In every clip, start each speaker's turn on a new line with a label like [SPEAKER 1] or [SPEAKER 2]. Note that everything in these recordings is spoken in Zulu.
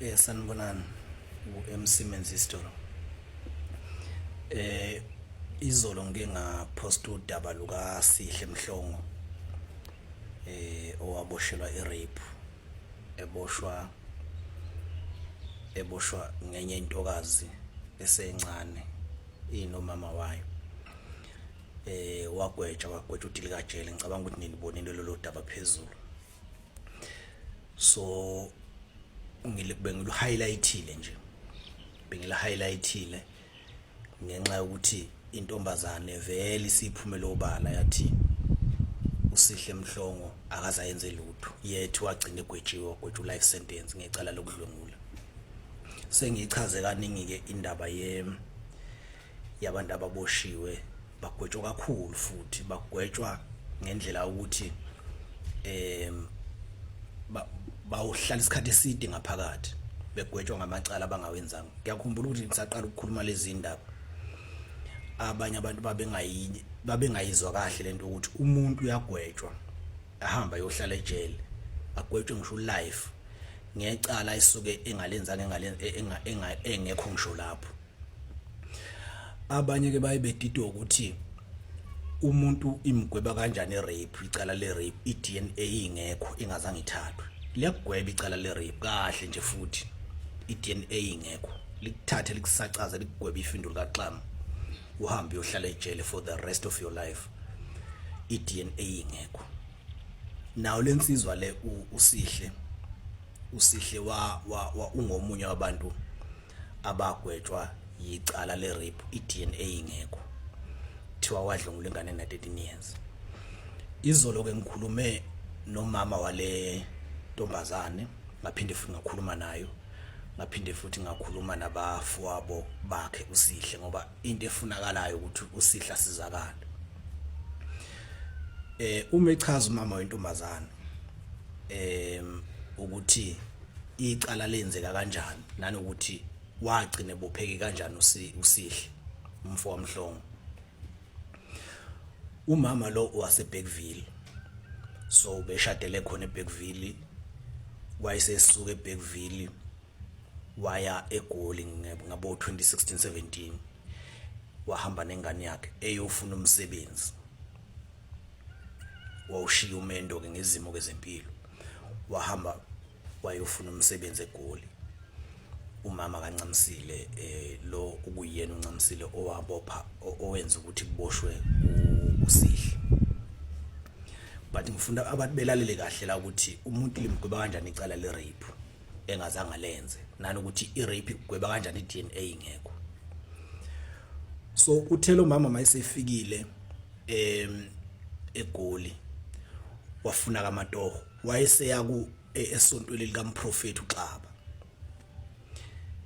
[SPEAKER 1] Eh sanibonani uMC Menzistolo. Eh izolo ngike ngaposta udaba luka Sihle Mhlongo eh owaboshelwa irape eboshwa eboshwa ngenye intokazi esencane inomama wayo eh wagwetshwa wagwetshwa udilikajele ngicabanga ukuthi nilibonile lolu daba phezulu so bengilu-highlightile nje bengila-highlightile ngenxa yokuthi intombazane vele isiphumele obala yathi usihle mhlongo akazayenze lutho yethu wagcina egwetshiwe wagwetsha u-life sentence ngecala lokudlwengula sengiyichaze kaningi-ke indaba ye yabantu ababoshiwe bagwetshwa kakhulu futhi bagwetshwa ngendlela ukuthi em bawuhlala isikhathi eside ngaphakathi begwetshwa ngamacala abangawenzanga ngiyakhumbula ukuthi ngisaqala ukukhuluma lezi ndaba abanye abantu babengayi babengayizwa kahle lento ukuthi umuntu uyagwetshwa ahamba yohlala ejele agwetshwe ngisho life ngecala isuke engalenzanga engale engekho ngisho lapho abanye ke baye bedidwa ukuthi umuntu imgweba kanjani rape icala le rape i DNA ingekho ingazange ithathwe liyagweba icala le rape kahle nje futhi i DNA ingekho likuthathe likusacaze likugweba ifindo likaxama uhambe uyohlala ejele for the rest of your life i DNA ingekho nawo lensizwa le usihle usihle wa, wa, wa ungomunye wabantu abagwetshwa yicala le-rape i-dna ingekho kuthiwa wadlungula ingane na-13 years izolo-ke ngikhulume nomama wale ntombazane ngaphinde futhi ngakhuluma nayo ngaphinde futhi ngakhuluma nabafowabo bakhe usihle ngoba into efunakalayo ukuthi usihle asizakale eh uma echaza umama wentombazane eh ukuthi icala lenzeka kanjani nanokuthi wagcina ebopheke kanjani usihle umfo wamhlongo umama lo waseBeckville so beshadele khona eBeckville wayesesuka eBeckville waya eGoli ngabo 2016 17 wahamba nengane yakhe eyofuna umsebenzi wawushiya umendo ke ngezimo kezempilo wahamba wayofuna umsebenzi eGoli umama kaNcamisile eh lo ukuyena uNcamisile owabopha owenza ukuthi kuboshwe usihle but ngifuna abantu belalele kahle la ukuthi umuntu limgweba kanjani icala le rape engazange lenze nanokuthi i rape igweba kanjani i DNA ingekho so uthela umama mayisefikile em egoli wafuna kamatoho wayeseya ku e, esontweni likamprofethi uXaba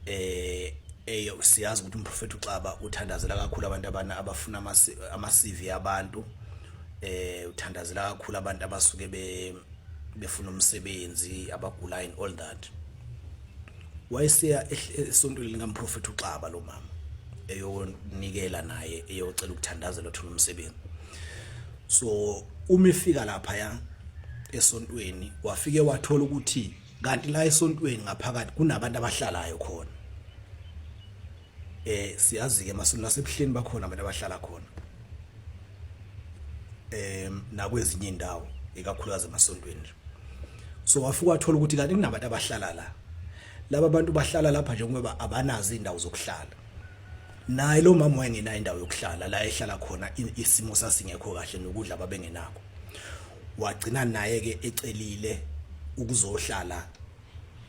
[SPEAKER 1] eh eyo siyazi ukuthi umprofethi uXaba uthandazela kakhulu abantu abana abafuna ama CV abantu eh uthandazela kakhulu abantu abasuke be befuna umsebenzi abagula and all that wayeseya esontweni likamprofethi uXaba lo mama eyonikela naye eyocela ukuthandazela uthola umsebenzi so uma efika lapha ya esontweni wafike wathola ukuthi kanti la esontweni ngaphakathi kunabantu abahlalayo khona eh siyazi ke masonto nasebuhleni bakhona abantu abahlala khona eh nakwezinye indawo ikakhulukazi emasontweni so wafika wathola ukuthi kanti kunabantu abahlala la laba bantu bahlala lapha njengoba abanazo indawo zokuhlala naye lo mama wayengenayo indawo yokuhlala la ehlala khona isimo sasingekho kahle nokudla babengenako wagcina naye ke ecelile ukuzohlala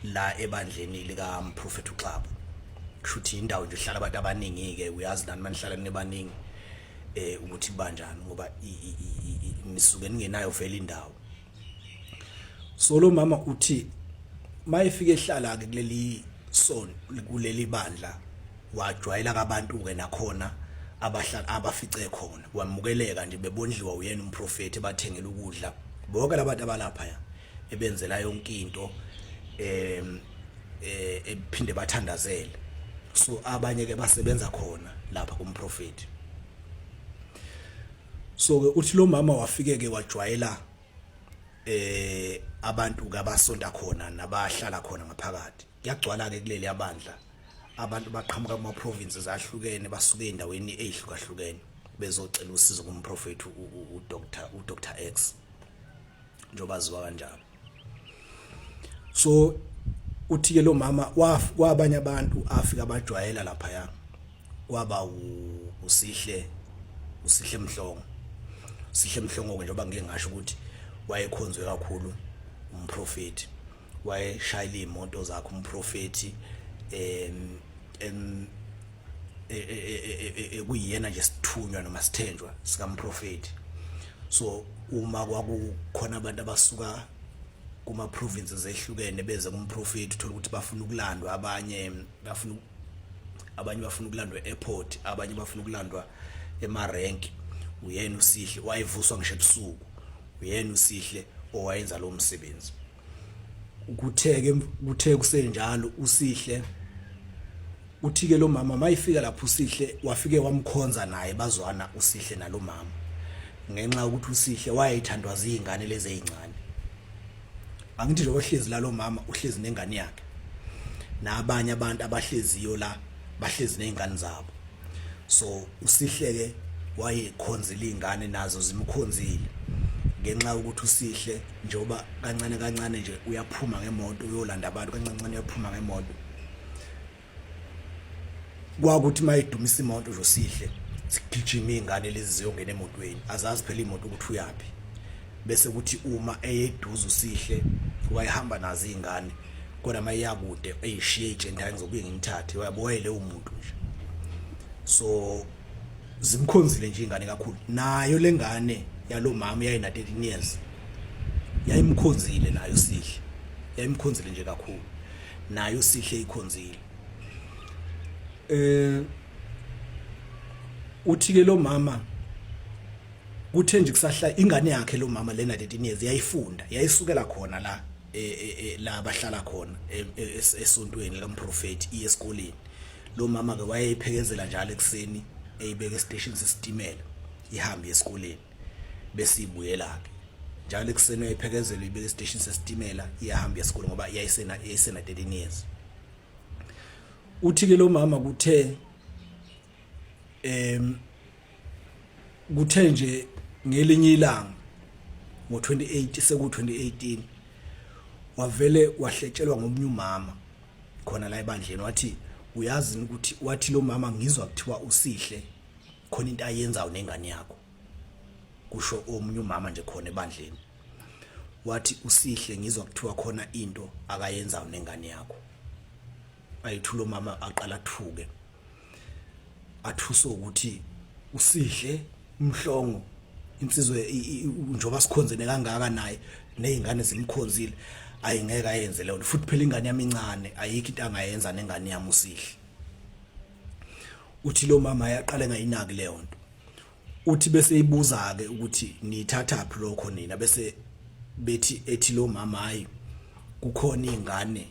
[SPEAKER 1] la ebandleni lika Prophet uXaba kushuthi indawo nje ihlala abantu abaningi ke uyazi nani manihlala nibaningi eh ukuthi banjani ngoba nisuke ningenayo vele indawo so lo mama uthi mayefika ehlala ke kuleli son kuleli bandla wajwayela kabantu ke nakhona abahlala abafice khona wamukeleka nje bebondliwa uyena umprofeti bathengela ukudla bonke labantu abalapha ya ebenzela yonke into em eh ephinde bathandazele so abanye ke basebenza khona lapha kumprofeti so ke uthi lo mama wafike ke wajwayela eh abantu ke abasonta khona nabahlala khona ngaphakathi kuyagcwala ke kuleli abandla abantu baqhamuka kuma provinces ahlukene basuke endaweni ezihlukahlukene bezocela usizo kumprofethi uDr uDr X njoba ziwa kanjalo so uthi ke lo mama kwabanye abantu afika bajwayela lapha ya kwaba usihle usihle mhlongo sihle mhlongo ke njengoba ngike ngasho ukuthi wayekhonzwe kakhulu umprofeti wayeshayile imoto zakhe umprofeti em e, e, e, kuyiyena nje sithunywa noma sithenjwa sikamprofeti so uma kwakukhona abantu abasuka kuma provinces ehlukene beze kumprofeti uthola ukuthi bafuna ukulandwa abanye bafuna abanye bafuna ukulandwa e-airport abanye bafuna ukulandwa ema-rank uyena usihle wayevuswa ngisho ebusuku uyena usihle owayenza lowo msebenzi kutheke kuthe kusenjalo usihle uthike lo mama mayifika lapho usihle wafike wamkhonza naye bazwana usihle nalo mama ngenxa ukuthi usihle wayethandwa zingane lezi ezincane angithi nje ohlezi la lo mama uhlezi nengane yakhe nabanye abantu abahleziyo la bahlezi nezingane zabo so usihleke wayekhonzile izingane nazo zimkhonzile ngenxa yokuthi usihle njengoba kancane kancane nje uyaphuma ngemoto uyolanda abantu kancancane uyaphuma ngemoto kwakuthi uma idumisa imoto nje usihle sigijima iy'ngane lezi ziyongena emotweni azazi phela imoto ukuthi uyaphi bese kuthi uma eyeduze usihle wayehamba nazo iy'ngane kodwa uma iyakude eyishiye ijendane ngizobuye ngimthathe wayaboyele umuntu nje so zimkhonzile nje ingane kakhulu nayo lengane yalomama yayina 13 years yayimkhonzile nayo sihle yayimkhonzile nje kakhulu nayo sihle ikhonzile eh uthi ke lo mama kuthe nje kusahla ingane yakhe lo mama lena 13 years yayifunda yayisukela khona la e, e, e, la bahlala khona esontweni lomprofeti esikoleni lo mama ke wayeyiphekezela njalo ekuseni eyibeka estation sesitimela ihambe esikoleni bese ibuyela ke njalo ekuseni wayiphekezela ibeka estation sesitimela iyahamba esikoleni ngoba iyayisena iyayisena 13 years uthi ke lo mama kuthe em kuthe nje ngelinye ilanga ngo28 seku 2018 wavele wahletshelwa ngomunye umama khona la ebandleni wathi uyazi ukuthi wathi lo mama ngizwa kuthiwa usihle khona into ayenzayo nengane yakho kusho omunye umama nje khona ebandleni wathi usihle ngizwa kuthiwa khona into akayenzayo nengane yakho ayithulo mama aqala thuke athuswe ukuthi usihle umhlongo insizwe njoba sikhonzene kangaka naye nezingane zimkhonzile ayingeke ayenze leyo futhi phela ingane yami incane ayikho into angayenza nengane yami usihle uthi lo mama yaqale ngayinaki leyo nto uthi bese ibuza ke ukuthi nithathaphi lokho nina bese bethi ethi lo mama hayi kukhona ingane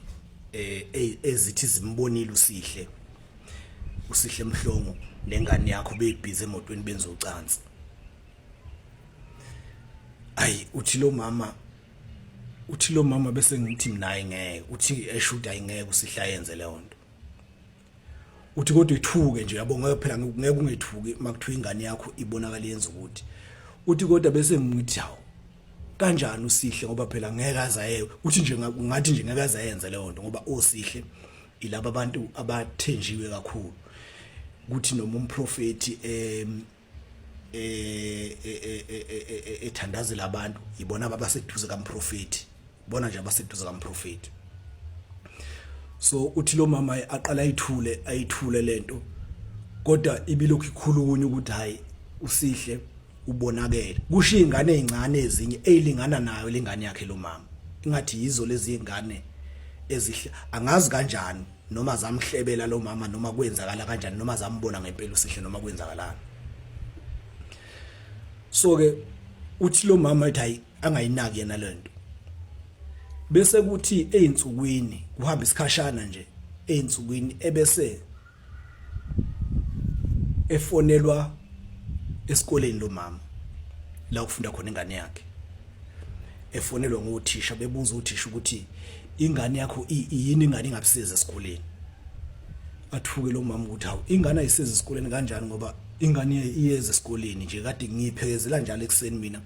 [SPEAKER 1] eh, eh ezithi zimbonile usihle usihle mhlongo nengane yakho beyibhize emotweni benza ucansi ayi uthi lo mama uthi lo mama bese ngithi mina ayingeke uthi eshuda ayingeke usihlayenze leyo nto uthi kodwa ithuke nje yabo ngeke phela ngeke ungethuki makuthiwa ingane yakho ibonakala yenza ukuthi uthi kodwa bese ngithi hawo kanjani usihle ngoba phela ngeke azaye uthi nje ngathi nje ngeke azayenza leyo nto ngoba osihle ilaba abantu abathenjiwe kakhulu ukuthi noma umprofeti em eh, eh, eh, ethandazela abantu yibona ababaseduze kamprofeti bona nje abaseduze kamprofeti so uthi lo mama aqala ayithule ayithule lento kodwa ibilokhu ikhulunywa ukuthi hayi usihle ubonakele kusho izingane ezincane ezinye ezilingana nayo lengane yakhe lo mama ingathi yizo lezi zingane ezihle angazi kanjani noma zamhlebela lo mama noma kwenzakala kanjani noma zambona ngempela usihle noma kwenzakalana so ke uthi lo mama ethi hayi angayinaki yena lento bese kuthi einsukwini kuhamba isikhashana nje einsukwini ebese efonelwa esikoleni lo mama la ufunda khona ingane yakhe efonelwa ngothisha bebuza uthisha ukuthi ingane yakho yini ingane ingabisiza esikoleni athuke lo mama ukuthi hawu ingane ayisiza esikoleni kanjani ngoba ingane iyeza esikoleni nje kade ngiyiphekezela njalo ekuseni mina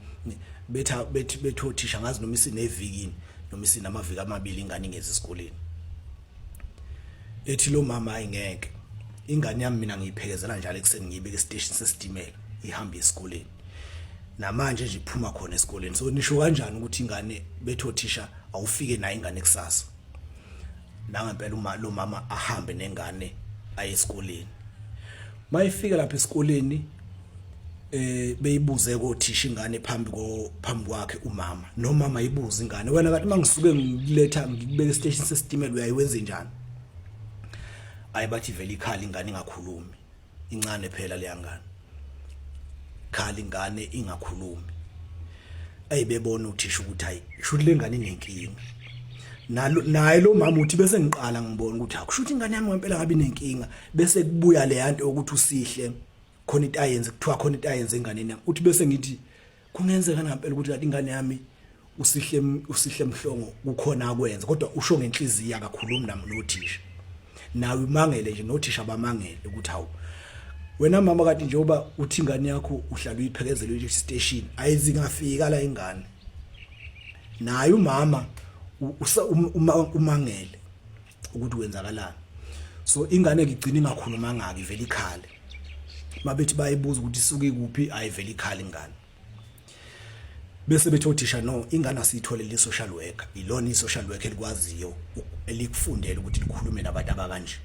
[SPEAKER 1] betha bethi bethothisha ngazi noma isinevikini noma isinamaviki amabili ingane ingezi esikoleni ethi lo mama ayingeke ingane yami mina ngiyiphekezela njalo ekuseni ngiyibeka estation sesitimela ihamba esikoleni namanje nje iphuma khona esikoleni so nisho kanjani ukuthi ingane betho thisha awufike nayo ingane kusasa nangempela uma lo mama ahambe nengane aye esikoleni mayifika lapha esikoleni eh beyibuze kothisha ingane phambi ko phambi kwakhe umama nomama ibuza ingane wena kanti mangisuke ngiletha ngikubeka station sesitimela uyayiwenze njani ayibathi vele ikhala ingane ingakhulumi incane phela leyangane khali ngane ingakhulumi ayibebona uthisha ukuthi hayi shuthi lengane inenkinga nalo naye lo mama uthi bese ngiqala ngibona ukuthi akushuthi ingane yami ngempela ngabe inenkinga bese kubuya le yanto ukuthi usihle khona into ayenze kuthiwa khona into ayenze enganeni yami uthi bese ngithi kungenzeka ngempela ukuthi kanti ingane yami usihle usihle mhlongo kukhona akwenza kodwa usho ngenhliziyo akakhulumi nami nothisha nawe imangele nje nothisha abamangele ukuthi hawu wena mama kade njengoba uthi ingane yakho uhlala uyiphekezela uyi station ayizingafika la ingane naye umama umangele ukuthi kwenzakalani so ingane ngigcina ingakhuluma ngaki ivele ikhale mabethi bayibuza ukuthi isuke kuphi ayivele ikhale ingane bese bethi othisha no ingane asiyitholele social worker ilona i-social worker elikwaziyo elikufundela ukuthi likhulume nabantu abakanje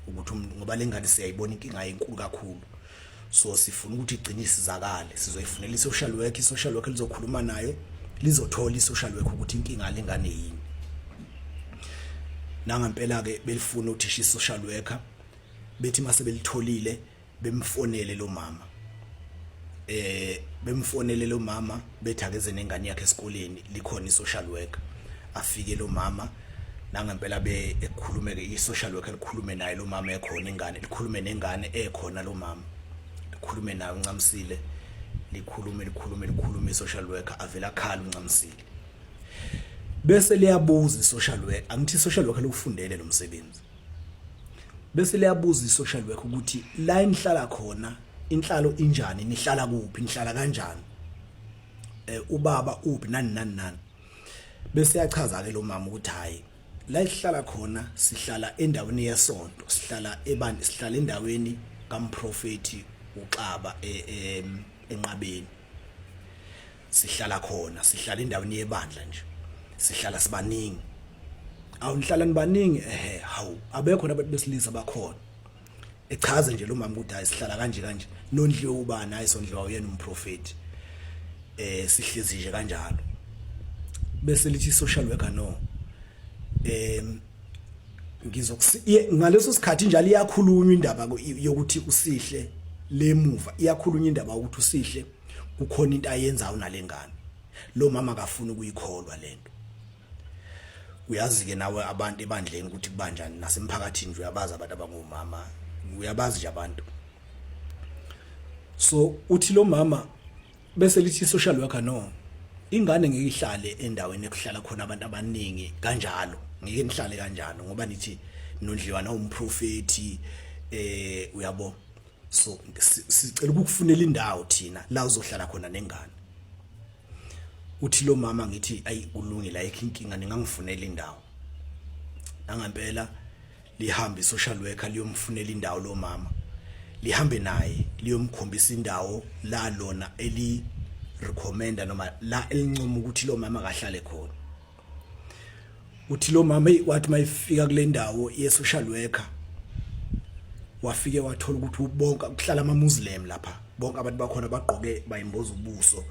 [SPEAKER 1] ukuthi ngoba lengane siyayibona inkinga enkulu kakhulu so sifuna ukuthi igcine isizakale sizoyifunela i-social work i-social work lizokhuluma nayo lizothola i-social work ukuthi inkinga lengane yini nangempela-ke belifuna uthisha i-social worker bethi uma sebelitholile bemfonele lo mama eh bemfonele lo mama bethi akeze nengane yakhe esikoleni likhona i-social worker afike lo mama nangempela be ekhulume ke i-social worker likhulume naye lo mama ekhona ingane likhulume nengane ekhona lo mama likhulume naye uncamsile likhulume likhulume likhulume i-social worker avela khala uncamsile bese liyabuza i-social worker angithi i-social worker lokufundele lo msebenzi bese liyabuza i-social worker ukuthi la enihlala khona inhlalo injani nihlala kuphi nihlala kanjani eh ubaba uphi nani nani nani bese yachaza ke lo mama ukuthi hayi la sihlala khona sihlala endaweni yesonto sihlala ebani sihlala endaweni kamprofeti uXaba e, e, enqabeni sihlala khona sihlala endaweni yebandla nje sihlala sibaningi awunihlala nibaningi ehe hawu abekho nabantu besilisa bakhona echaze nje lo mama ukuthi hayi sihlala kanje kanje nondliwe ubani hayi sondliwa uyena umprofeti eh sihlezi nje kanjalo bese lithi social worker no em ngizokusi ngaleso sikhathi njalo iyakhulunywa indaba yokuthi usihle lemuva iyakhulunywa indaba ukuthi usihle kukhona into ayenzayo nalengane lo mama akafuni ukuyikholwa lento uyazi-ke nawe abantu ebandleni ukuthi kubanjani nasemphakathini nje uyabazi abantu abangomama uyabazi nje abantu so uthi lo mama bese lithi social worker no ingane ngeke ihlale endaweni ekuhlala khona abantu abaningi kanjalo ngeke nihlale kanjalo ngoba nithi nondliwa nawumprofeti eh uyabo so sicela ukukufunela indawo thina la uzohlala khona nengane uthi lo mama ngithi ayi kulungile ayikho inkinga ningangifunela indawo nangempela lihambe social worker liyomfunela indawo lo mama lihambe naye liyomkhombisa indawo la lona eli recommenda noma la elincomo ukuthi lo mama akahlale khona uthi lo mama wathi mayifika kule ndawo ye social worker wafike wathola ukuthi bonke kuhlala ama muslim lapha bonke abantu bakhona bagqoke bayimboza ubuso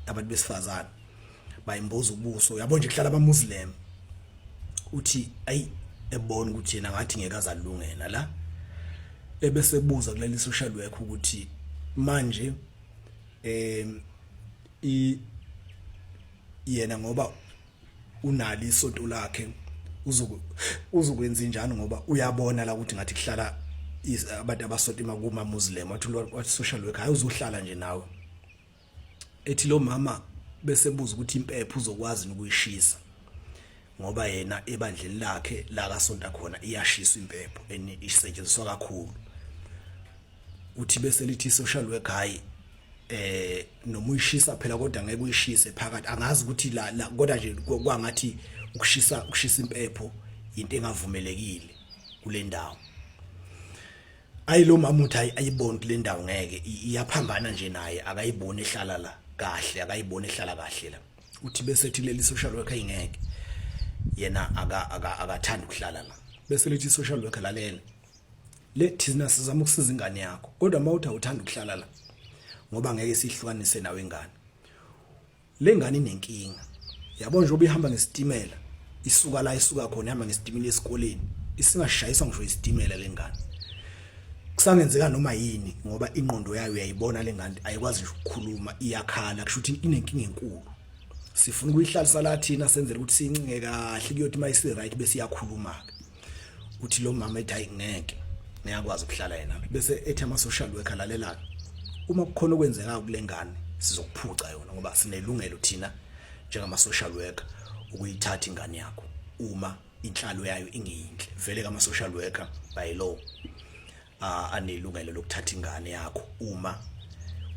[SPEAKER 1] abantu besifazane bayimboza ubuso yabo nje kuhlala ama muslim uthi ayi ebona ukuthi yena ngathi ngeke azalungena la ebese buza kuleli social worker ukuthi manje eh i yena ngoba unali isonto lakhe uzoku uzokwenza njani ngoba uyabona la ukuthi ngathi kuhlala abantu abasonto imakuma muslim wathi wathi social worker hayi uzohlala nje nawe ethi lo mama bese buza ukuthi impepho uzokwazi ukuyishisa ngoba yena ebandleni lakhe la kasonta khona iyashiswa impepho and isetshenziswa kakhulu uthi bese lithi social worker hayi eh noma uyishisa phela kodwa ngeke uyishise phakathi angazi ukuthi la, la kodwa nje kwangathi ukushisa ukushisa impepho into engavumelekile kule ndawo ayi lo mama uthi ayiboni kule ndawo ngeke iyaphambana nje naye akayiboni ehlala la kahle akayiboni ehlala kahle la uthi bese ethi leli social worker ingeke yena aka akathanda ukuhlala la bese lithi social worker lalela le thina sizama ukusiza ingane yakho kodwa mawuthi awuthanda ukuhlala la ngoba ngeke sihlukanise nawe ingane le ngane inenkinga yabo nje obihamba ngesitimela isuka la isuka khona ihamba ngesitimela esikoleni isingashayiswa ngisho isitimela le ngane kusangenzeka noma yini ngoba ingqondo yayo uyayibona le ngane ayikwazi nje ukukhuluma iyakhala kusho ukuthi inenkinga enkulu sifuna ukuyihlalisa la thina senzele ukuthi sincinge kahle kuyothi mayisi right bese iyakhuluma ke uthi lo mama ethi hayi ngeke ngiyakwazi ukuhlala yena bese ethi ama social worker lalelaka uma kukhona okwenzeka kulengane sizokuphuca yona ngoba sinelungelo thina njengama social worker ukuyithatha ingane yakho uma inhlalo yayo ingeyinhle vele kama social worker by law anelungelo lokuthatha ingane yakho uma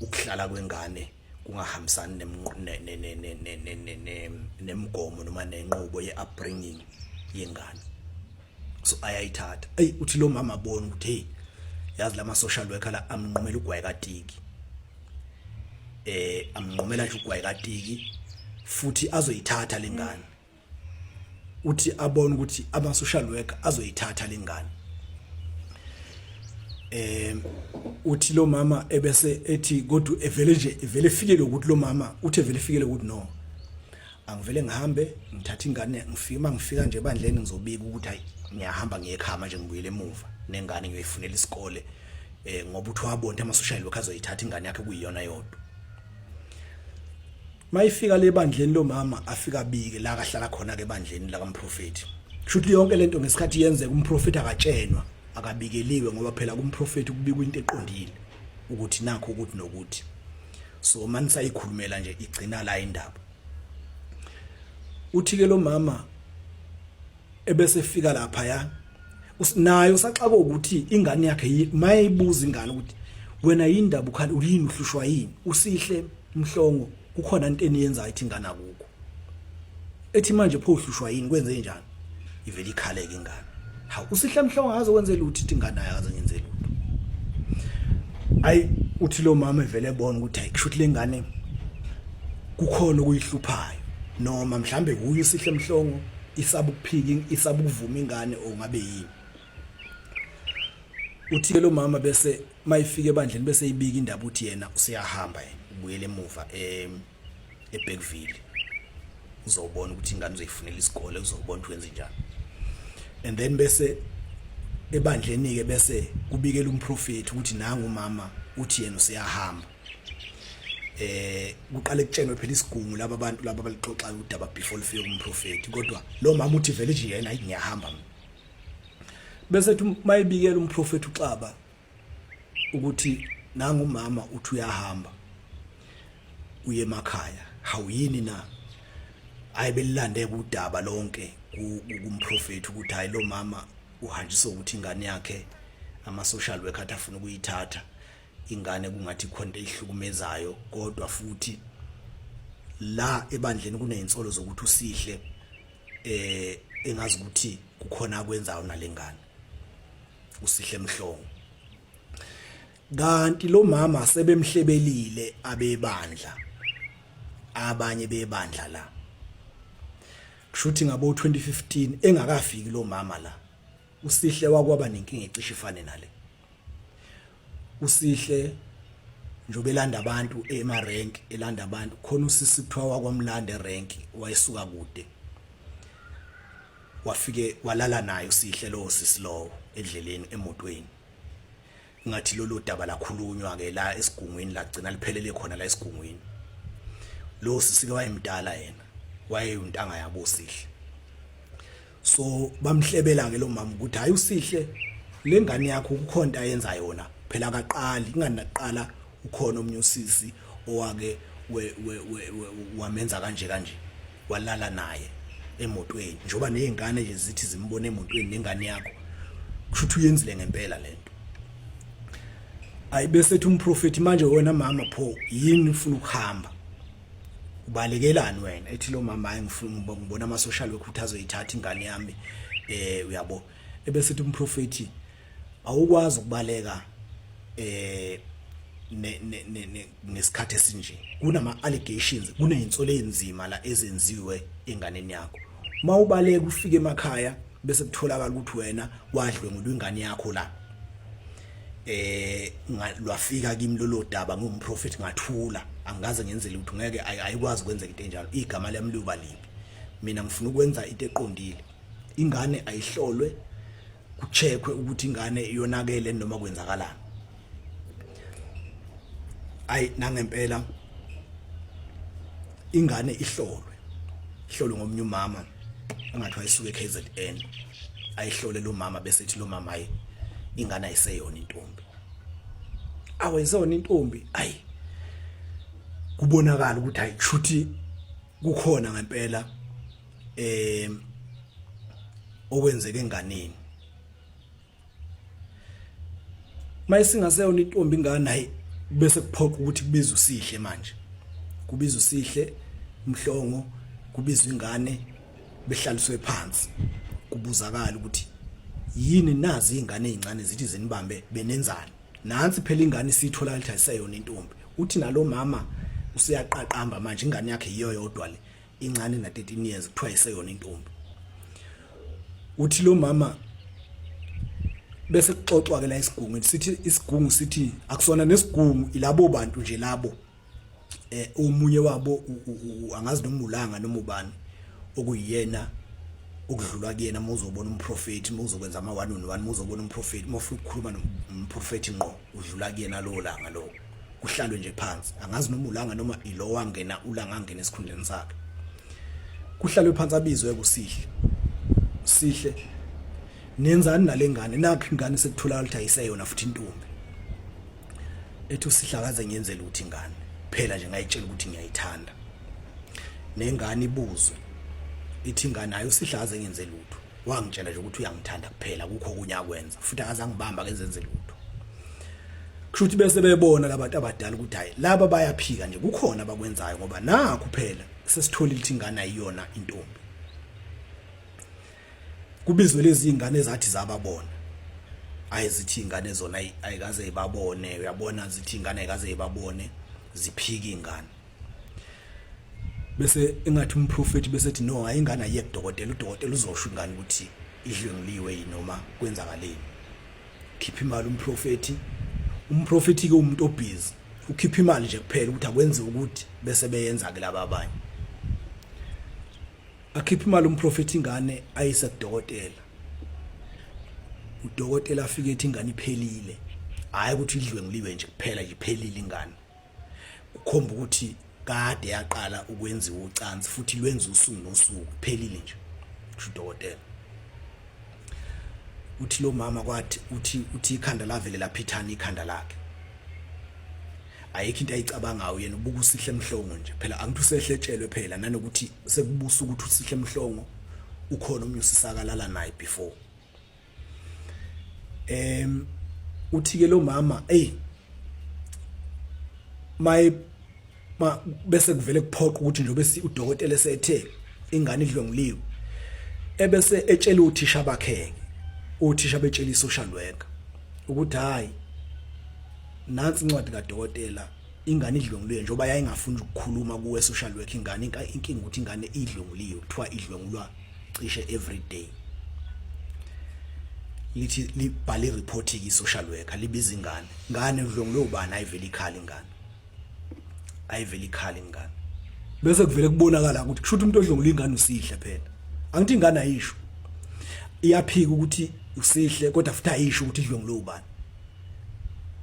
[SPEAKER 1] ukuhlala kwengane kungahambisani nemgomo noma nenqubo ye-upbringing yengane so ayayithatha eyi uthi lo mama abona ukuthi hey yazi lama social worker la amnqumela ugwayi katiki eh amnqumela nje ugwayi katiki futhi azoyithatha lengane uthi abone ukuthi ama social worker azoyithatha lengane eh uthi lo mama ebese ethi kodwa evele nje evele fikele ukuthi lo mama uthi evele fikele ukuthi no angivele ngihambe ngithatha ingane ngifike mangifika nje bandleni ngizobika ukuthi hayi ngiyahamba ngiyekhama nje ngibuyele emuva nengane ngiyoyifunela isikole eh ngoba uthi wabonta ama social worker azoyithatha ingane yakhe kuyiyona yodwa mayifika le bandleni lomama afika abike la kahlala khona ke bandleni la kamprofeti kushuthi yonke lento ngesikhathi yenzeka umprofeti akatshenwa akabikeliwe ngoba phela kumprofeti kubikwa into eqondile ukuthi nakho ukuthi nokuthi so mani sayikhulumela nje igcina la indaba uthi ke lo mama ebese efika lapha ya usinayo saxaka ukuthi ingane yakhe mayibuza ingane ukuthi wena yindaba ukhali uyini uhlushwa yini usihle mhlongo kukhona into eniyenza ithi ingane akuko ethi manje pho uhlushwa yini kwenze njani ivele ikhaleke ingane ha usihle mhlongo akaze kwenze lutho ithi ingane akaze ngenze lutho ayi uthi lo mama evele ebona ukuthi hayi kushuthi lengane kukhona okuyihluphayo noma mhlambe kuyi sihle mhlongo isaba ukuphika isaba ukuvuma ingane ongabe yini uthike lo mama bese mayifike ebandleni bese ibika indaba uthi yena useyahamba yena ubuyele emuva em eBergville uzobona ukuthi ingane uzoyifunela isikole uzobona ukuthi wenze njani and then bese ebandleni ke bese kubikela umprofeti ukuthi nangu umama uthi yena useyahamba eh kuqale kutshenwe phela isigungu laba abantu laba balixoxa udaba before lifike kumprofeti kodwa lo mama uthi vele nje yena ngiyahamba mina bese uthi mayibikela umprofeti uxaba ukuthi nangu umama uthi uyahamba uye emakhaya hawuyini na ayibelilande kudaba lonke kumprofeti ukuthi hayi lo mama uhanjiswa ukuthi ingane yakhe ama social worker afuna ukuyithatha ingane kungathi khona eyihlukumezayo kodwa futhi la ebandleni kunezinsolo zokuthi usihle eh engazi ukuthi kukhona akwenzayo nalengane usihle mhlongo kanti lo mama sebemhlebelile abebandla abanye bebandla la kushuthi ngabo 2015 engakafiki lo mama la usihle wakwaba nenkinga ecishe ifane nale usihle njobe elanda abantu ema rank elanda abantu khona usisi kuthiwa wakwamlande rank wayesuka kude wafike walala naye usihle lowo sisi lowo edleleni emotweni ngathi lolu daba lakhulunywa ke la esigungwini lagcina liphelele khona la esigungwini lo sisike wayemdala yena wayeyontanga yabo sihle so bamhlebela ke lo mama ukuthi hayi usihle lengane yakho ukukhonta yenza yona phela akaqali ingani naqala ukhona omunye usisi owake we wamenza kanje kanje walala naye emotweni njoba nezingane nje zithi zimbone emotweni nengane yakho kushuthi uyenzile ngempela lento ayibesethu umprofeti manje wena mama pho yini ufuna ukuhamba ubalekelani wena ethi lo mama hayi ngifuna ngibona ama social worker ukuthi azoyithatha ingane yami eh uyabo ebese uthi umprofeti awukwazi ukubaleka eh ngesikhathi esinje kunama allegations kunezinsolo ezinzima la ezenziwe enganeni yakho uma ubaleka ufike emakhaya bese kutholakala ukuthi wena wadlwe ngudwa ingane yakho la eh lwafika kimi lolo daba ngumprofeti ngathula angikaze ngenze lutho ngeke ayikwazi kwenzeka into enjalo igama lami liyoba libi mina ngifuna ukwenza into eqondile ingane ayihlolwe kucheckwe ukuthi ingane iyonakele noma kwenzakalani ayi nangempela ingane ihlolwe ihlolwe ngomunye umama engathi wayesuke KZN ayihlole lo mama bese ethi lo mama ayi ingane ayiseyona intombi awayisona intombi ayi kubonakala ukuthi ayishuthi kukhona ngempela eh okwenzeke enganeni mayisingaseyona intombi ingane hayi bese kuphoqa ukuthi kubiza usihle manje kubiza usihle mhlongo kubizwa ingane behlaliswe phansi kubuzakala ukuthi yini nazi izingane ezincane zithi zinibambe benenzani nansi phela ingane isithola ukuthi ayiseyona intombi uthi nalomama useyaqaqamba manje ingane yakhe yiyo yodwa le incane na 13 years kuthiwa iseyona intombi uthi lo mama bese kuxoxwa ke la isigungu sithi isigungu sithi akusona nesigungu ilabo bantu nje labo eh omunye wabo angazi noma ulanga noma ubani okuyena okudlulwa kuyena muzobona umprofeti muzokwenza ama one on one muzobona umprofeti mufuna ukukhuluma nomprofeti ngqo udlula kuyena lowo langa lowo kuhlalwe nje phansi angazi noma ulanga noma ilo wangena ulanga angena esikhundleni sakhe kuhlalwe phansi abizwe kusihle sihle nenzani nalengane nakho ingane sekuthola ukuthi ayiseyona futhi intombi ethi usihlakaze ngiyenzela ukuthi ingane phela nje ngayitshela ukuthi ngiyayithanda nengane ibuzwe ithi ingane ayo sihlaze ngenze lutho wangitshela nje ukuthi uyangithanda kuphela kukho okunye akwenza futhi akazangibamba kenzenze lutho kushuthi bese bebona labantu abadala ukuthi hayi laba bayaphika nje kukhona abakwenzayo ngoba nakho phela sesitholile ukuthi ingane ayiyona intombi kubizwe lezi ingane ezathi zababona ayizithi ingane zona ayikaze ibabone uyabona zithi ingane ayikaze ibabone ziphika ingane bese engathi umprofeti bese ethi no hayi ingane ayiye kudokotela udokotela uzosho ingane ukuthi idlwenguliwe yini noma kwenzakaleni khipha imali umprofeti umprofeti ke umuntu obhizi ukhipha imali nje kuphela ukuthi akwenze ukuthi bese beyenza ke laba abanye akhipha imali umprofeti ingane ayise kudokotela udokotela afike ethi ingane iphelile hayi ukuthi idlwenguliwe nje kuphela iphelile ingane kukhomba ukuthi kade yaqala ukwenziwa ucansi futhi lwenza usuku nosuku kuphelile nje kusho udokotela uthi lo mama kwathi uthi uthi ikhanda lavele laphithana ikhanda lakhe ayikho into ayicabangayo yena ubuka usihle mhlongo nje phela angithi usehletshelwe phela nanokuthi sekubusa ukuthi usihle mhlongo ukhona umnye usisakalala naye before em uthi ke lo mama ey my ma bese kuvele kuphoqa ukuthi njobe si udokotela esethe ingane idlonguliwe ebese etshela uthisha bakhe uthisha betshela isocial worker ukuthi hayi nansi incwadi kadokotela ingane idlonguliwe njengoba yayingafuni ukukhuluma kuwe social worker ingane inkinga ukuthi ingane idlonguliwe kuthiwa idlongulwa cishe every day lithi libhale ireport ki social worker libiza ingane ngane udlongiwe ubani ayivela ikhala ingane ayivela ikhala ingane bese kuvele kubonakala ukuthi kushuthi umuntu odlongula ingane usihle phela angithi ingane ayisho iyaphika ukuthi usihle kodwa futhi ayisho ukuthi idlongule ubani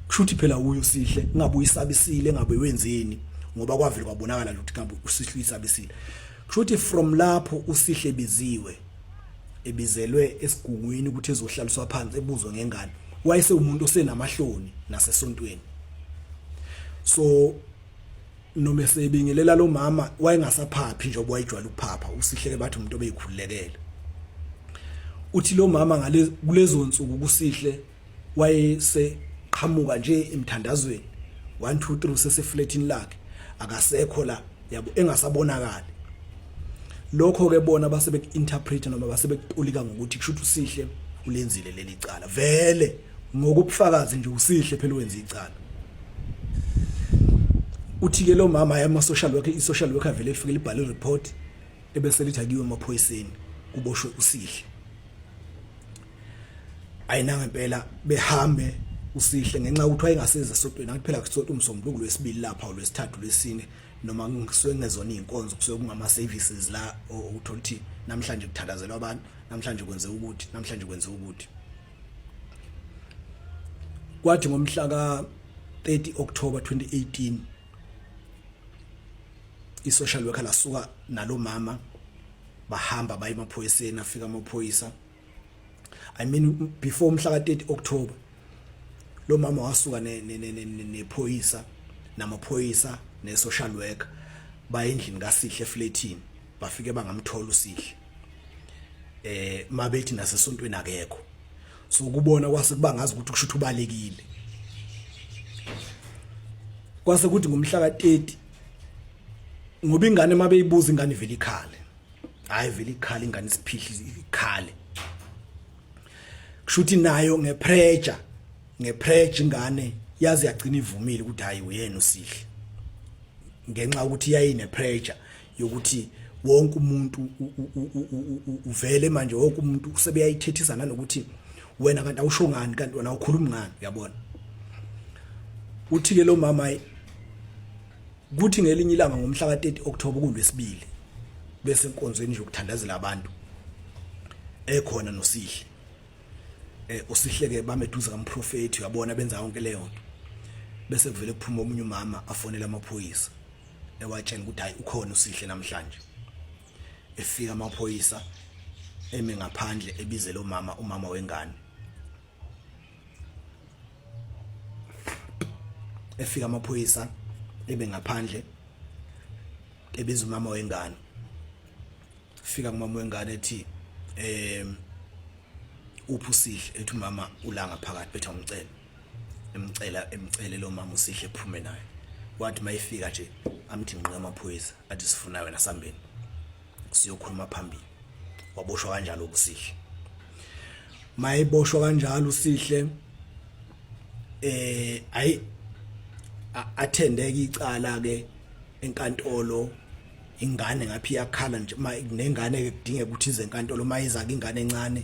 [SPEAKER 1] kushuthi phela uyo usihle ngabe uyisabisile ngabe wenzeni ngoba kwavile kwabonakala ukuthi ngabe usihle uyisabisile kushuthi from lapho usihle biziwe ebizelwe esigungwini ukuthi ezohlaliswa phansi ebuzwe ngengane wayese umuntu osenamahloni nasesontweni so noma esebingelela lo mama wayengasaphaphi njengoba wayijwala ukuphapha usihleke bathi umuntu obeyikhululekele uthi lo mama ngale kulezo nsuku kusihle wayeseqhamuka nje emthandazweni 1 2 3 sesefletini lakhe akasekho la yabo engasabonakali lokho ke bona base beku-interpreta noma base bekutolika ngokuthi kusho ukuthi usihle ulenzile leli cala vele ngokubufakazi nje usihle phela wenza icala uthike lo mama yama social worker i social worker vele ifike libhale report ebese lithakiwe emaphoyiseni kuboshwe usihle ayinanga impela behambe usihle ngenxa ukuthi wayengasiza esotweni angithi phela kusotwa umsombuluko lwesibili lapha olwesithathu lwesine noma ngisuke ngezona izinkonzo kusuke kungama services la uthola ukuthi namhlanje kuthandazelwa abantu namhlanje kwenze ukuthi namhlanje kwenze ukuthi kwathi ngomhla ka 30 October 2018 isocial worker lasuka nalomama bahamba baye emaphoyiseni afika amaphoyisa i mean before umhla ka 30 October lo mama wasuka ne nephoyisa namaphoyisa ne social worker bayendlini kaSihle flatini bafike bangamthola uSihle eh mabethi nasesontweni akekho so kubona kwase kuba ngazi ukuthi kushuthi ubalekile kwase kuthi ngomhla ka 30 ngoba ingane mabeyibuza ingane vele ikhale hayi vele ikhale ingane isiphihli ikhale kushuthi nayo ngepressure ngepressure ingane yazi yagcina ivumile ukuthi hayi uyena usihle ngenxa ukuthi yayine pressure yokuthi wonke umuntu uvele manje wonke umuntu usebeyayithethisa nanokuthi wena kanti awusho ngani kanti wena ukhuluma ngani uyabona uthi ke lo mama kuthi ngelinye ilanga ngomhla ka-30 October kulwesibili bese enkonzweni nje ukuthandazela abantu ekhona nosihle eh usihleke bameduze kamprofeti uyabona benza yonke leyo nto bese kuvele kuphuma omunye umama afonela amaphoyisa ewatshela ukuthi hayi ukhona usihle namhlanje efika amaphoyisa eme ngaphandle ebize lo mama umama wengane efika amaphoyisa ebe ngaphandle ebiza umama wengane fika kumama wengane ethi em uphi usihle ethi umama ulanga phakathi bethu ngicela emcela emcele lo mama usihle phume naye wathi mayifika nje amthi nqe amaphoyisa athi sifuna wena sambeni siyokhuluma phambili waboshwa kanjalo ubusihle mayiboshwa kanjalo usihle eh ayi athendeka icala ke enkantolo ingane ngaphi yakhala nje nengane ke kudinge ukuthi ize enkantolo mayiza ke ingane encane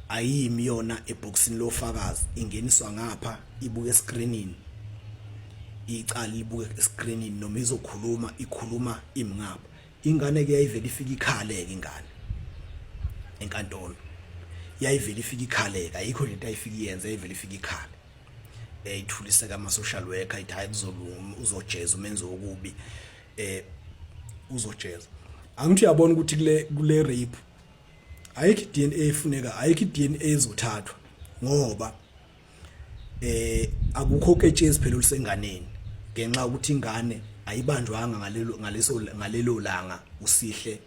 [SPEAKER 1] ayimi yona eboxini lofakazi ingeniswa ngapha ibuke escreenini icala libuke escreenini noma izokhuluma ikhuluma imngapha ingane ke yayivele ifika ikhaleke ingane enkantolo yayivele ifika ikhaleka ayikho lento ayifika iyenze yayivele ifika ikhale eyithuliseka ama social worker ithi hayi kuzolunga uzojeza umenzi wokubi eh uzojeza angithi uyabona ukuthi kule kule rape ayikho DNA efuneka ayikho DNA ezothathwa ngoba eh akukho ketshezi phela olusenganeni ngenxa ukuthi ingane ayibanjwanga ngalelo ngaleso ngalelo langa usihle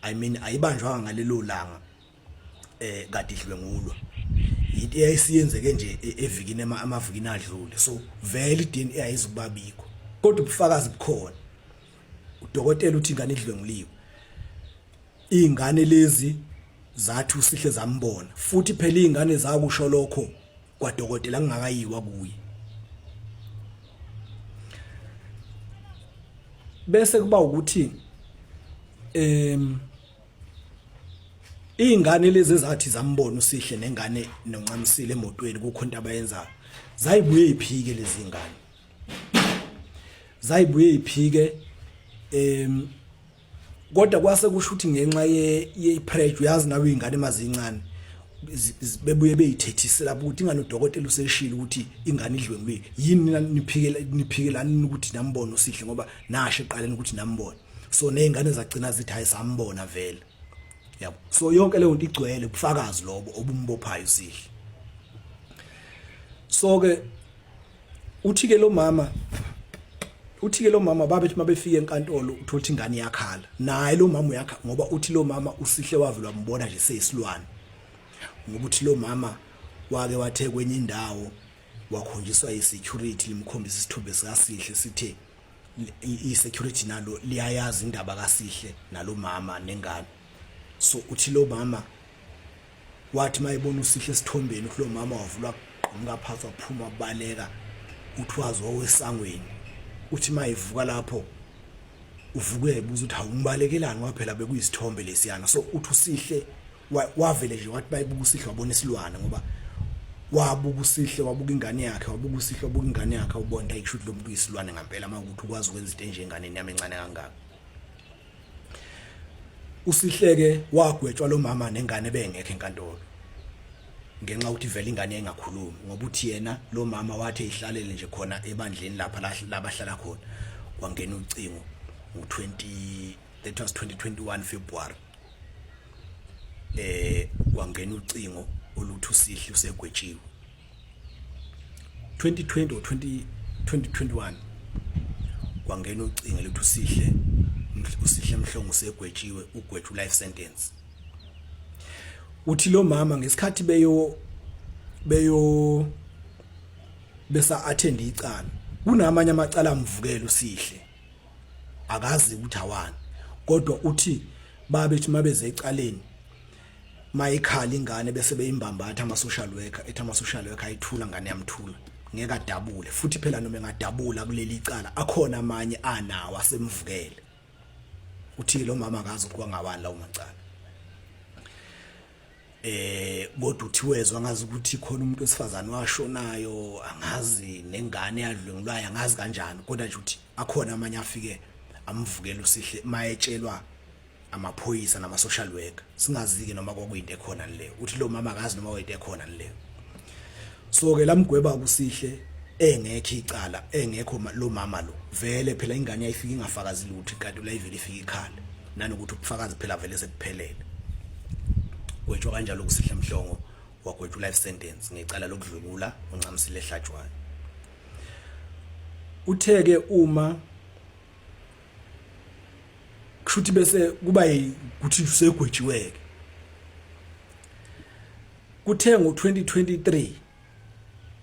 [SPEAKER 1] i mean ayibanjwanga ngalelo langa eh kade idlwengulwa into eyayisiyenzeke nje e-, evikini amavikini adlule so vele iDNA ayizukubabikho kodwa ubufakazi bukhona udokotela uthi ingane idlwenguliwe ingane lezi zathi usihle zambona futhi phela izingane zakusho lokho kwadokotela ngingakayiwa kuye bese kuba ukuthi em izingane lezi ezathi zambona usihle nengane noncamisile emotweni kukho into abayenzayo zayibuye iphike lezi ngane zayibuye iphike em kodwa kwase kusho ukuthi ngenxa ye ye pressure uyazi nawe ingane mazincane bebuye beyithethisela ukuthi ingane udokotela useshilo ukuthi ingane idlwengiwe yini nina niphikela niphikelani ukuthi nambono sihle ngoba nasho eqaleni ukuthi nambona so nezingane zagcina zithi hayi sambona vele yabo so yonke leyo nto igcwele ubufakazi lobo obumbophayo sihle so ke uthi ke lo mama uthi ke lo mama babethi mabefika enkantolo uthola ukuthi ingane yakhala naye lo mama uyakha ngoba uthi lo mama usihle wavela wambona nje seyisilwane ngoba uthi lo mama wake wathe kwenye indawo wakhonjiswa yi-security limkhombisa isithombe sikasihle sithe i-security nalo liyayazi indaba kasihle nalo mama nengane so uthi lo mama wathi mayebona usihle esithombeni ukuthi lo mama wavulwa kugqumuka phansi waphuma wabaleka uthi wazi wawesangweni uthi mayevuka lapho uvuke ebuza ukuthi awumbalekelani waphela bekuyisithombe lesiyana so uthi usihle wavele nje wathi bayibuka usihle wabona isilwane ngoba wabuka usihle wabuka ingane yakhe wabuka usihle wabuka ingane yakhe ubona ayishuthi lo muntu uyisilwane ngempela uma ukuthi ukwazi ukwenza into enjenganeni yami encane kangaka usihleke wagwetshwa lo mama nengane bengekho enkantolo ngenxa ukuthi vele ingane engakhulumi ngoba uthi yena lo mama wathi ihlalele nje khona ebandleni lapha labahlala khona kwangena ucingo ngo-20 that was 2021 February eh kwangena ucingo oluthi usihle usegwetshiwe 2020 or 20 2021 kwangena ucingo lethu usihle usihle mhlongo usegwetshiwe ugwetshu life sentence uthi lo mama ngesikhathi beyo beyo besa attend icala kunamanye amacala amvukela usihle akazi ukuthi awani kodwa uthi babethi mabeze ecaleni mayikhala ingane bese beyimbambatha ama social worker ethi ama social worker ayithula ngane yamthula ngeke adabule futhi phela noma engadabula kuleli icala akhona amanye anawo asemvukele uthi lo mama akazi ukuwa ngawani lawo macala eh kodwa uthiwezwe angazi ukuthi khona umuntu wesifazane washonayo angazi nengane yadlwengulwayo angazi kanjani kodwa nje ukuthi akhona amanye afike amvukela usihle mayetshelwa amaphoyisa nama social worker singazike noma kwakuyinto ekhona le uthi lo mama akazi noma kwayinto ekhona le so ke lamgweba kusihle engekho icala engekho lo mama lo vele phela ingane yayifika ingafakazi lutho kanti ulayivele ifika ikhala nanokuthi ubufakazi phela vele sekuphelele gwetshwa kanjalo kusihle mhlongo wagwetshwa life sentence ngecala lokudlwengula uncamisile ehlatshwayo utheke uma kushuthi bese kuba ukuthi usegwetshiweke kuthe ngo2023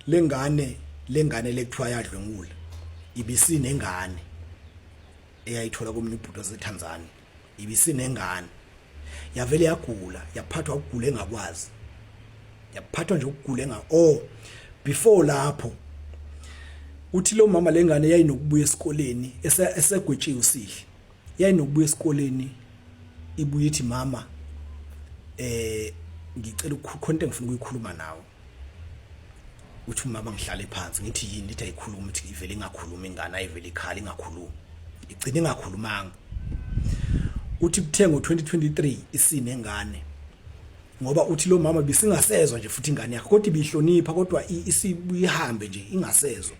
[SPEAKER 1] lengane lengane lekuthiwa yadlwengula ibisinengane eyayithola komunye ubhuti waseTanzania ibisinengane yavele yagula yaphathwa ukugula engakwazi yaphathwa nje ukugula enga oh before lapho uthi lo mama lengane yayinokubuya esikoleni esegwetshiwe usihle yayinokubuya esikoleni ibuye ithi mama eh ngicela ukukhonta ngifuna ukuyikhuluma nawe uthi umama ngihlale phansi ngithi yini lithi ayikhulumi ithi ivele ingakhulumi ingane ayivele ikhala ingakhulumi igcine ingakhulumanga uthi kuthe ngo-2023 isine ngane ngoba uthi lo mama bisingasezwa nje futhi ingane yakhe kodwa ibihlonipha kodwa isibuyihambe nje ingasezwa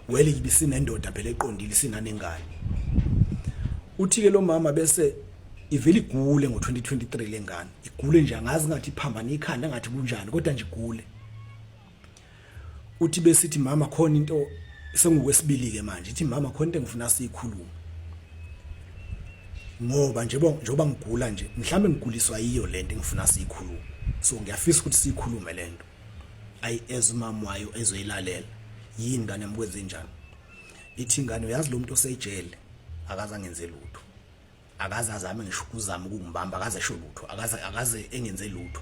[SPEAKER 1] wele ibisinendoda phela eqondile isinanengane uthi ke lo mama bese ivele igule ngo-2023 lengane igule nje angazi ngathi iphambane ikhanda ngathi kunjani kodwa nje igule uthi besithi mama khona into sengikwesibili ke manje ithi mama khona into engifuna siyikhulume ngoba nje njoba ngigula nje mhlambe ngiguliswa yiyo lento engifuna siyikhulume so ngiyafisa ukuthi siyikhulume lento ayi ezimama wayo ezoyilalela yini ngane mkwenze njani ithi ngane uyazi lo muntu osejele akaza ngenze lutho akaze azame ngisho ukuzama ukungibamba akaze esho lutho akaze akaze engenze lutho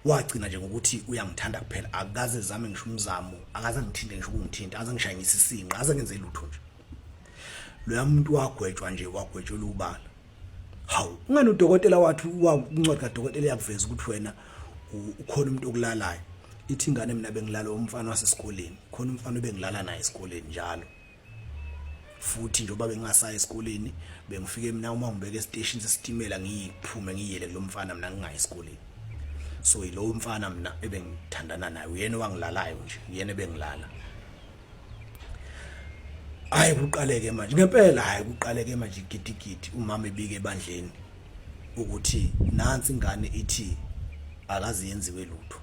[SPEAKER 1] wagcina nje ngokuthi uyangithanda kuphela akaze zame ngisho umzamo akaze ngithinte ngisho ukungithinta akaze ngishayingise isinqa akaze ngenze lutho nje loya muntu wagwetshwa nje wagwetshelwa ubala hawu ungani udokotela wathi wakuncwadi kadokotela yakuveza ukuthi wena ukhona umuntu okulalayo ithi ingane mina bengilala umfana wasesikoleni khona umfana obengilala naye esikoleni njalo futhi njengoba bengingasayi esikoleni bengifike mina uma ngibeke esiteshini sesitimela ngiyiphume ngiyele kulo mfana mina ngingayi esikoleni so yilowo mfana mina ebengithandana naye uyena owangilalayo nje uyena ebengilala hayi kuqaleke manje ngempela hayi kuqaleke manje gidigidi umama ebike ebandleni ukuthi nansi ingane ithi akazi yenziwe lutho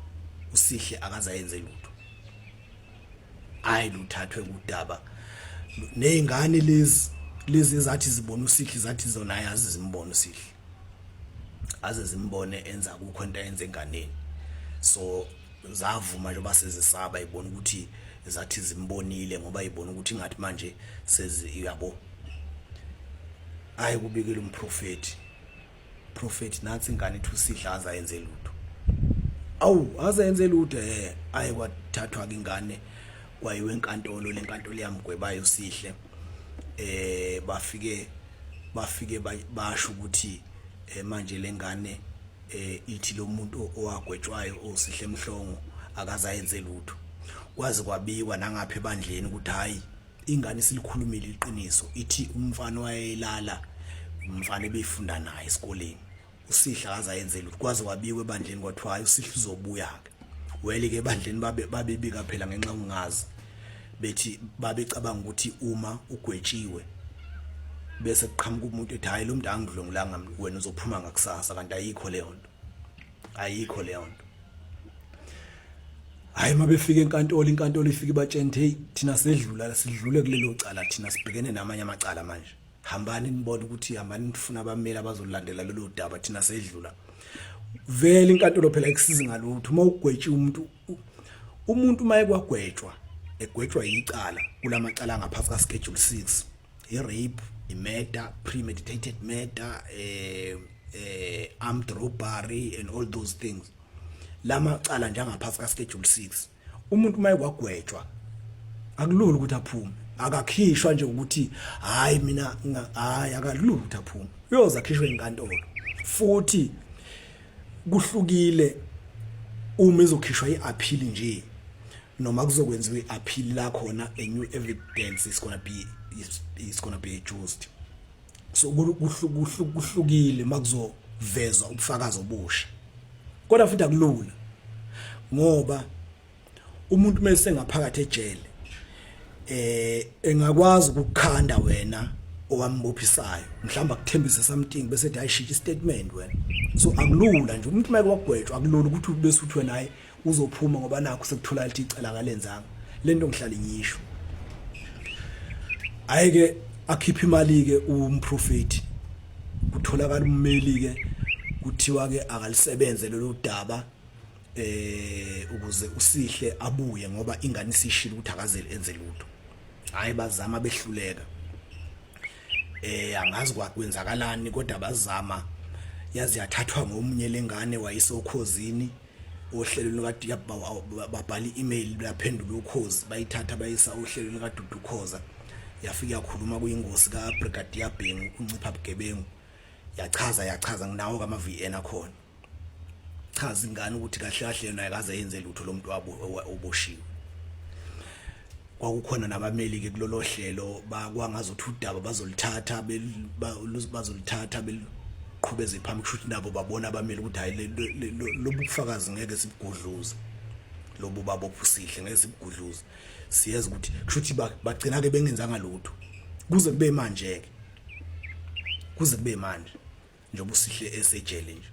[SPEAKER 1] usihle akazayenze lutho hayi luthathwe kudaba nezingane lezi lezi zathi zibona usihle zathi zona ayazi zimbona usihle aze zimbone enza kukho into ayenze enganeni so zavuma nje basezisaba ibona ukuthi zathi zimbonile ngoba ibona ukuthi ngathi manje sezi yabo ayi kubikela umprofeti prophet nansi ingane ithi usidla aza yenze lutho awu aza yenze lutho eh ayi kwathathwa ke ingane kwayiwe enkantolo lenkantolo yamgwebayo sihle eh bafike bafike basho ukuthi eh, manje lengane eh ithi lo muntu owagwetshwayo osihle emhlongo akazayenze lutho kwazi kwabikwa nangapha ebandleni ukuthi hayi ingane isilikhulumile iqiniso ithi umfana wayelala umfana ebefunda naye esikoleni usihla kaza yenzela ukuthi kwaze wabikwe ebandleni kwathiwa hayi usihla uzobuya ke wele ke ebandleni babe babebika phela ngenxa ungazi bethi babecabanga ukuthi uma ugwetshiwe bese kuqhamuka umuntu ethi hayi lo muntu angidlongulanga wena uzophuma ngakusasa kanti ayikho leyo nto ayikho leyo nto hayi uma befika enkantolo inkantolo ifike ibatshene hey thina sedlula sidlule kulelo cala thina sibhekene namanye amacala manje hambani nibone ukuthi hambani nifuna abameli abazolandela lelo daba thina sedlula vele inkantolo phela ikusiza ngalutho uma ugwetshe umuntu umuntu uma ekwagwetshwa egwetshwa yicala kulamacala ngaphansi ka schedule 6 i rape i murder premeditated murder eh eh armed robbery and all those things lama cala njengaphansi ka schedule 6 umuntu uma ekwagwetshwa akulula ukuthi aphume akakhishwa nje ukuthi hayi mina hayi akalula ukuthi aphume uyoza khishwe inkantolo futhi kuhlukile uma izokhishwa iappeal nje noma kuzokwenziwa i-appeal la khona a new evidence is gonna be is, is gonna be adjusted so kuhlukile makuzovezwa ubufakazi obusha kodwa futhi akulula ngoba umuntu mase ngaphakathi ejele eh engakwazi ukukhanda wena owambophisayo mhlawumbe akuthembise something bese ethi ayishiya istatement wena so akulula nje umuntu make wagwetshwa akulula ukuthi bese uthi wena hayi uzophuma ngoba nakho sekuthola lithi icela kalenzanga lento ngihlale ngisho ayike akhipha imali ke umprofeti kutholakala ummeli ke kuthiwa ke akalisebenze lolu daba eh ukuze usihle abuye ngoba ingane isishilo ukuthi akazeli enze lutho hayi bazama behluleka eh angazi kwakwenzakalani kodwa bazama yazi yathathwa ngomunye lengane wayisokhozini ohlelweni lukadiyab babhala i-email luyaphendula ukhozi bayithatha bayisa ohlelweni lukadudu khoza yafike yakhuluma kuyingosi kabrigadiya bhengu uncipha bugebengu yachaza yachaza nginawo kama-v n akhona chaza ingane ukuthi kahle kahle yona ayikaze yenze lutho lo muntu oboshiwe kwakukhona nabameli-ke kulolo hlelo bakwangazi ukuthi udaba bazolithatha bazolithatha beluqhubeze phambi kusho ukuthi nabo babona abameli ukuthi hhayi lobu bufakazi ngeke sibugudluze lobu babo obusihle ngeke sibugudluze siyazi ukuthi kusho ukuthi bagcina-ke bengenzanga lutho kuze kube manje-ke kuze kube manje njengoba usihle esejele nje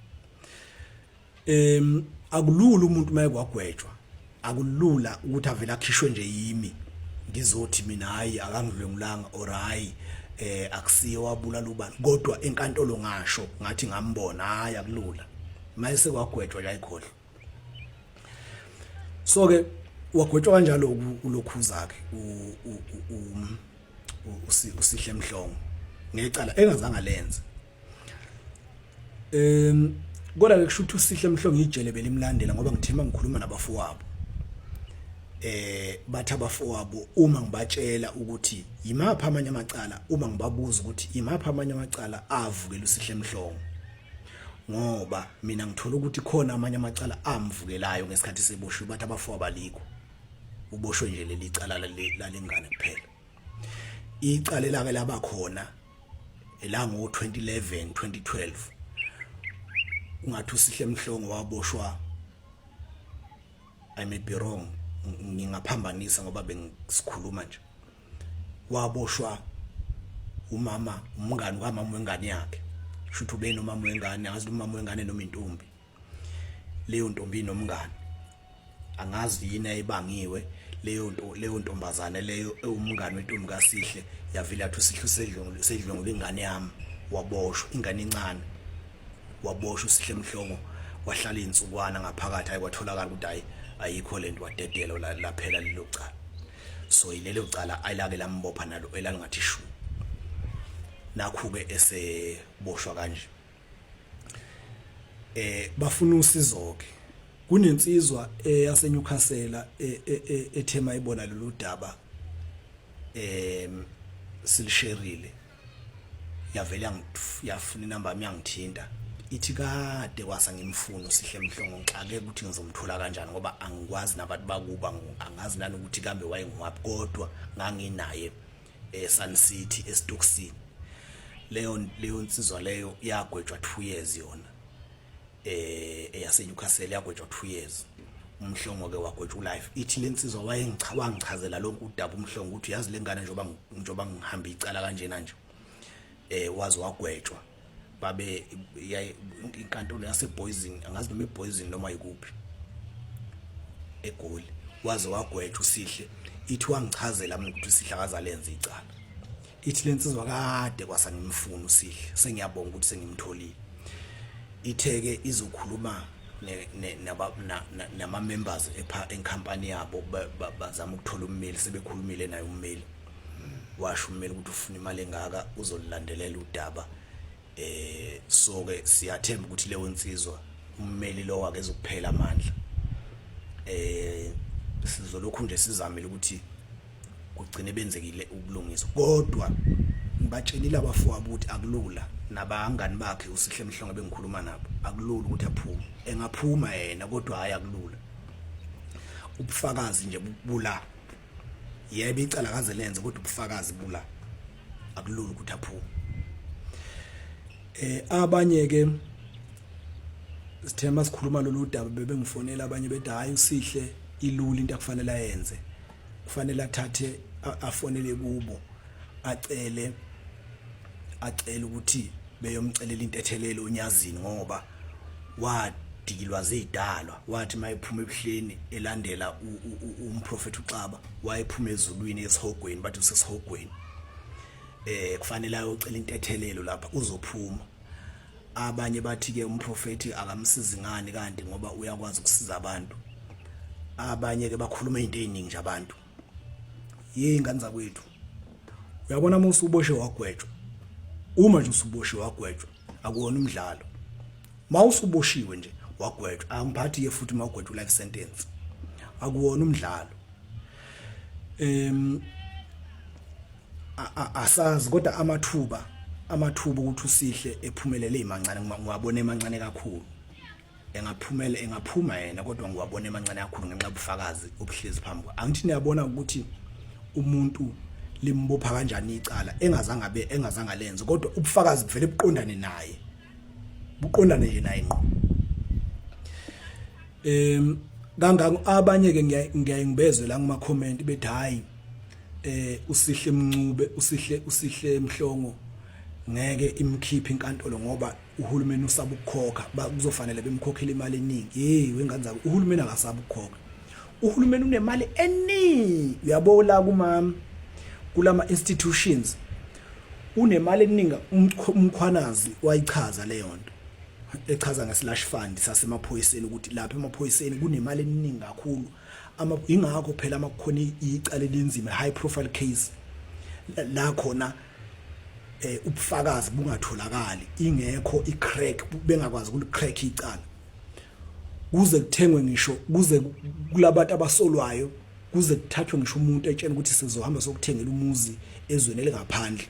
[SPEAKER 1] em akulula umuntu maye kwagwetshwa akulula ukuthi avele akhishwe nje yimi ngizothi mina hayi akangidlwengulanga or hayi eh akusiye wabulala ubani kodwa enkantolo ngasho ngathi ngambona hayi akulula mayese kwagwetshwa la ikhohlo so ke wagwetshwa kanjalo ulokhuza ke usihle mhlongo ngecala engazange lenze em kodwa ke kushuthi usihle mhlongo ijele belimlandela ngoba ngithemba ngikhuluma nabafowabo eh bathi abafowabo uma ngibatshela ukuthi yimaphi amanye amacala uma ngibabuza ukuthi yimaphi amanye amacala avukela usihle mhlongo ngoba mina ngithola ukuthi khona amanye amacala amvukelayo ngesikhathi seboshwe bathi abafo abaliko uboshwe nje leli cala lalengane kuphela icala elake laba khona elango 2011 2012 ungathi usihle mhlongo waboshwa i may be wrong ngingaphambanisa ngoba bengisikhuluma nje waboshwa umama umngani kamama wengane yakhe shuthi ube nomama wengane angazi umama wengane noma intombi leyo ntombi nomngani angazi yini ayibangiwe leyo nto leyo ntombazane leyo ewumngani wentombi kaSihle yavila athi uSihle usedlongile sedlongile ingane yami waboshwa ingane incane waboshwa uSihle Mhlongo wahlala insukwana ngaphakathi ayikwatholakala ukuthi ayikho lento wadedelwa laphela lelo cala so yilelo cala ayilake lambopha nalo elangathi shu nakhu-ke eseboshwa kanje eh bafuna usizo-ke kunensizwa eyaseNewcastle e, e, e, ethema ibona lolu daba em silisherile yavele yafuna inamba yami yangithinta ithi kade kwasa ngimfuna usihle mhlongo ngixake ukuthi ngizomthola kanjani ngoba angikwazi nabantu bakuba angazi nani ukuthi kambe wayengiwapi kodwa nganginaye eSun eh, City eStoksini leyo leyo nsizwa leyo yagwetshwa 2 years yona eh eyaseNewcastle yagwetshwa 2 years umhlongo ke wagwetshwa ulife ithi lensizwa wayengichawangichazela lonke udaba umhlongo ukuthi uyazi lengane njoba njoba ngihamba icala kanjena nje eh wazi wagwetshwa babe inkantolo yaseboyzini angazi noma iboyzini noma yikuphi egoli waze wagwetshwa usihle ithi wangichazela mina ukuthi usihle akazalenza icala ithi lensizwa kade kwasa ngimfuna usihle sengiyabonga ukuthi sengimtholile itheke izokhuluma nama members epha enkampani yabo bazama ukuthola ummeli sebekhulumile naye ummeli washo ummeli ukuthi ufuna imali engaka uzolilandelela udaba eh so ke siyathemba ukuthi leyo nsizwa ummeli lo wake ezokuphela amandla eh sizolokhu nje sizamile ukuthi kugcine benzekile ubulungiswa kodwa ngibatshelile abafowabo ukuthi akulula nabangani bakhe usihle mhlongo bengikhuluma nabo akulula ukuthi aphume engaphuma yena kodwa hayi akulula ubufakazi nje bula yebo icala kaze lenze kodwa ubufakazi bula akulula ukuthi aphume eh abanye ke sithema sikhuluma lolu daba bebengifonela abanye bethi hayi usihle ilula into akufanele ayenze kufanele athathe afonele kubo acele acele ukuthi beyomcelela intethelelo unyazini ngoba wadikilwa zidalwa wathi mayephuma ebuhleni elandela umprofeti uxaba wayephuma ezulwini esihogweni bathi usesihogweni eh kufanele ayocela intethelelo lapha uzophuma abanye bathi ke umprofeti akamsizi ngani kanti ngoba uyakwazi ukusiza abantu abanye ke bakhuluma izinto eziningi nje abantu yey ngane zakwethu uyabona uma usuboshe wagwetshwa uma nje usuboshe wagwetshwa akuwona umdlalo uma usuboshiwe nje wagwetshwa angiphathi ke futhi uma ugwetshwa life sentence akuwona umdlalo em asazi kodwa amathuba amathuba ukuthi usihle ephumelele imancane ngiwabona emancane kakhulu engaphumela engaphuma yena kodwa ngiwabona emancane kakhulu ngenxa ubufakazi obuhlezi phambi kwa angithi niyabona ukuthi umuntu limbopha kanjani icala engazange abe engazange lenze kodwa ubufakazi buvele buqondane naye buqondane nje naye ngqo em kangaka abanye ke ngiyaye ngibezwe la kuma comment bethi hayi eh usihle mncube usihle usihle mhlongo ngeke imkhiphe inkantolo ngoba uhulumeni usaba ukukhokha kuzofanele bemkhokhele imali eningi hey wengane zabo uhulumeni akasaba ukukhokha uhulumeni unemali eningi uyabo la kumama kulama institutions unemali eningi umkhwanazi wayichaza leyo nto echaza ngeslash fund sasemaphoyiseni ukuthi lapha emaphoyiseni kunemali eningi kakhulu ama ingakho phela uma kukhona icala elinzima high profile case la khona eh ubufakazi bungatholakali ingekho icrack bengakwazi ukulicrack icala kuze kuthengwe ngisho kuze kulabantu abasolwayo kuze kuthathwe ngisho umuntu etshena ukuthi sizohamba sokuthengela umuzi ezweni elingaphandle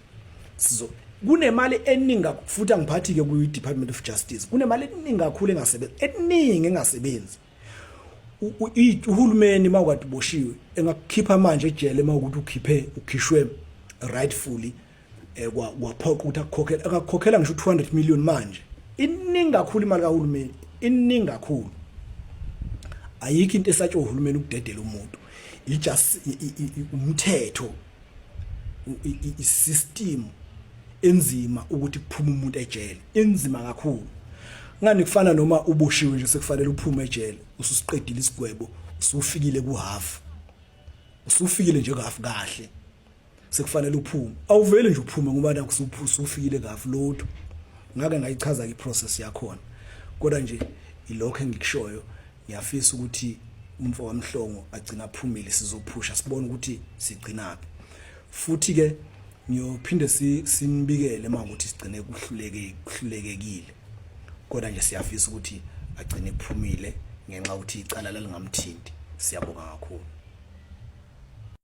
[SPEAKER 1] sizo kunemali eningi futhi angiphathi ke ku Department of Justice kunemali eningi kakhulu engasebenzi eningi engasebenzi uhulumeni mawukade uboshiwe engakukhipha manje ejele mawukuthi ukhiphe ukhishwe rightfully eh, kwaphoqa ukuthi akukhokhele akakhokhela ngisho 200 million manje iningi kakhulu imali kahulumeni iningi kakhulu ayikho into esatshwa uhulumeni ukudedela umuntu ijust umthetho i-system enzima ukuthi kuphume umuntu ejele inzima kakhulu ngani kufana noma uboshiwe nje sekufanele uphume ejele ususiqedile isigwebo usufikile ku half usufikile nje half kahle sekufanele uphume awuvele nje uphume ngoba nakusuphusa ufikile half lotho ngake ngayichaza iprocess yakhona kodwa nje ilokho engikushoyo Ngiyafisa ukuthi umfo kaMhlongo agcina aphumile sizophusha sibone ukuthi sigcinaphi. Futhi ke ngiyophinde simbikele uma ukuthi sigcine kuhluleke kuhlulekekile. Kodwa nje siyafisa ukuthi agcine kuphumile ngenxa ukuthi icala lalingamthinti. Siyabonga kakhulu.